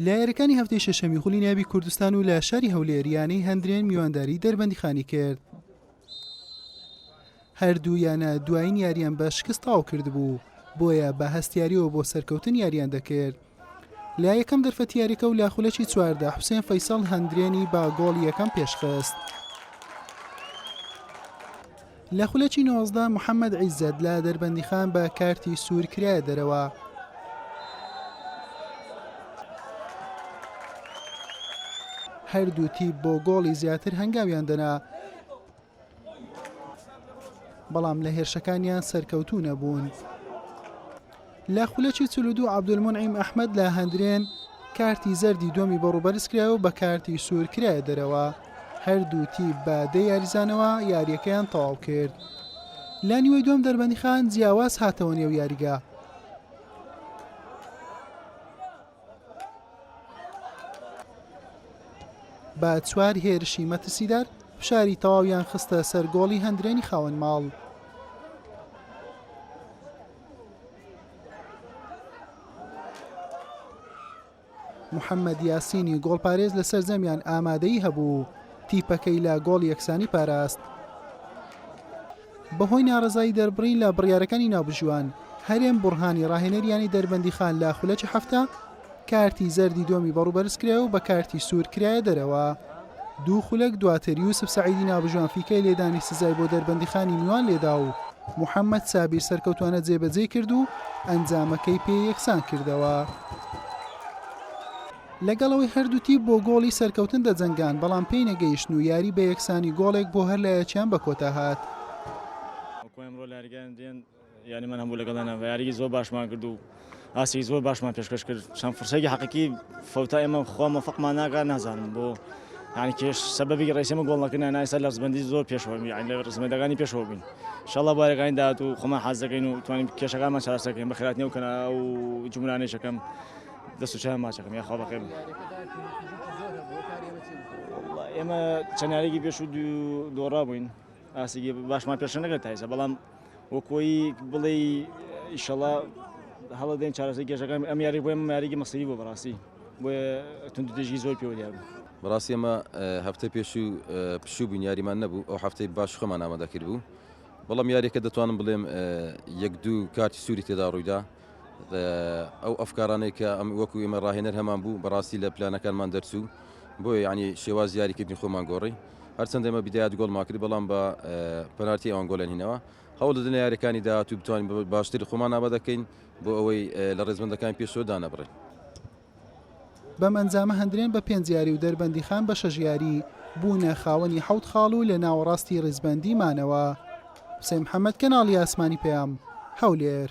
لە یاریەکانی هەفتەی شەشەمی خولی نابی کوردستان و لە شاری هەولێریانەی هەندرێن میوانداری دەربەندیخانی کرد هەردوو یانە دوایین یاریان بە شکست تاو کرد بوو بۆیە بە هەستیاریەوە بۆ سەرکەوتن یاریان دەکرد لە یەکەم دەرفەتیارەکە و لە خولەکی چواردا حوسێن فەیسەڵ هەندرێنی با گۆڵ یەکەم پێشخست. لە خولەکی نۆزدە محەمەد عیزەت لە دەربەندیخان بە کارتی سوور کرایە دەرەوە. هەردوو تیپ بۆ گۆڵی زیاتر هەنگاویان دەنا بەڵام لە هێرشەکانیان سەرکەوتوو نەبوون. لە خولەکی چل و دوو عەبدولمونعیم ئەحمەد لە هەندرێن کارتی زەردی دووەمی بۆ ڕووبەرز کرایەوە و بە کارتی سوور کرایە دەرەوە، هەردوو تیپ بە دە یاریزانەوە یارییەکەیان تەواو کرد. لە نیوەی دووەم دەربەندیخان جیاواز هاتەوە نێو یاریگا. بە چوار هێرشی مەترسیدار فشاری تەواویان خستە سەر گۆڵی هەندرێنی خاوەن ماڵ. محەممەد یاسینی گۆڵپارێز لە سەرجەمیان ئامادەی هەبوو تیپەکەی لە گۆڵ یەکسانی پاراست بەهۆی ناڕزایی دەربڕین لە بڕیارەکانی ناوبژیوان هەرێم بڕهانی ڕاهێنەریانی دەربەندی خان لە خولەکی هەفتە کارتی زەردی دۆمی بەڕوو بەرزکرایە و بە کارتی سوور کرایە دەرەوە. دوو خولەک دواتر یوسف سەعیدی نابژوان فیکای لێدانی سزای بۆ دەربەندیخانی میوان لێدا و محەمەد سابیر سەرکەوتوانە جێبەجێی کرد و ئەنجامەکەی پێ یەکسان کردەوە. لەگەڵ ئەوەی هەردوو تیپ بۆ گۆڵی سەرکەوتن دەجەنگان، بەڵام پێی نەگەیشتن و یاری بە یەکسانی گۆڵێک بۆ هەر لایەکیان بەکۆتا هات. یاریمان هەبوو لەگەڵ هێنا و یاریی زۆر باشمان کرد و ئاستێکی زۆر باشمان پێشکەش کرد، چەند فرسەیەکی حەقیقی فەوتا ئێمە خوا مۆفەقمان ناکا نازانم بۆ یانی کێش سەبەبی ڕێسی ئێمە گۆڵ نەکردنە ئێستا لە ڕزبەندی زۆر پێشەوە یانی لە ڕزبەندەکانی پێشەوە بووین ان شاء اللە بۆ یارییەکانی داهاتوو خۆمان حاز دەکەین و توانین کێشەکانمان چارەسەر بکەین بە خێراتنی ئەو کەنارا و جومرانەیش ئەکەم دەست و چاویان ماچ ئەکەم یاخوا بەخێر ئێمە چەند یارییەکی پێشوو دوو دۆڕا بووین ئاستێکی باشمان پێشە نەکرد تایسە بەڵام وەک وەی بڵێ ئیشەڵا هەڵە دێن چارەسەی گەشەکان ئەم یاری بۆێ یاریگە مەسەری بۆ بەڕاستی بۆێ تونند دژی زۆر پێوە دیار بوو. بەڕاستی ئەمە هەفتەی پێشوو پشوو بووین یاریمان نەبوو ئەو هەفتەی باش خۆمان ئامادەکرد بوو بەڵام یاریەکە دەتوانم بڵێم یەک دوو کارتی سووری تێدا ڕوویدا ئەو ئەفکارانەی کە وەکو ئێمە ڕاهێنەر هەمان بوو بەڕاستی لە پلانەکانمان دەرچوو بۆیە یعنی شێواز یاریکردنی خۆمان گۆڕی هەرچەند ئێمە بدایەت گۆڵمان کرد بەڵام بە پەنارتی ئەوان گۆڵیان هینەوە هەوڵ دەدەین لە یاریەکانی داهاتوو بتوانین باشتری خۆمان ئابا دەکەین بۆ ئەوەی لە ڕێزبندەکان پێشەوە دانەبڕین بەم ئەنجامە هەندرێن بە پێنج یاری و دەربەندیخان بە شەش یاری بوونە خاوەنی حەوت خاڵ و لە ناوەڕاستی ڕیزبەندی مانەوە حسێن محەممەد کەناڵی ئاسمانی پەیام هەولێر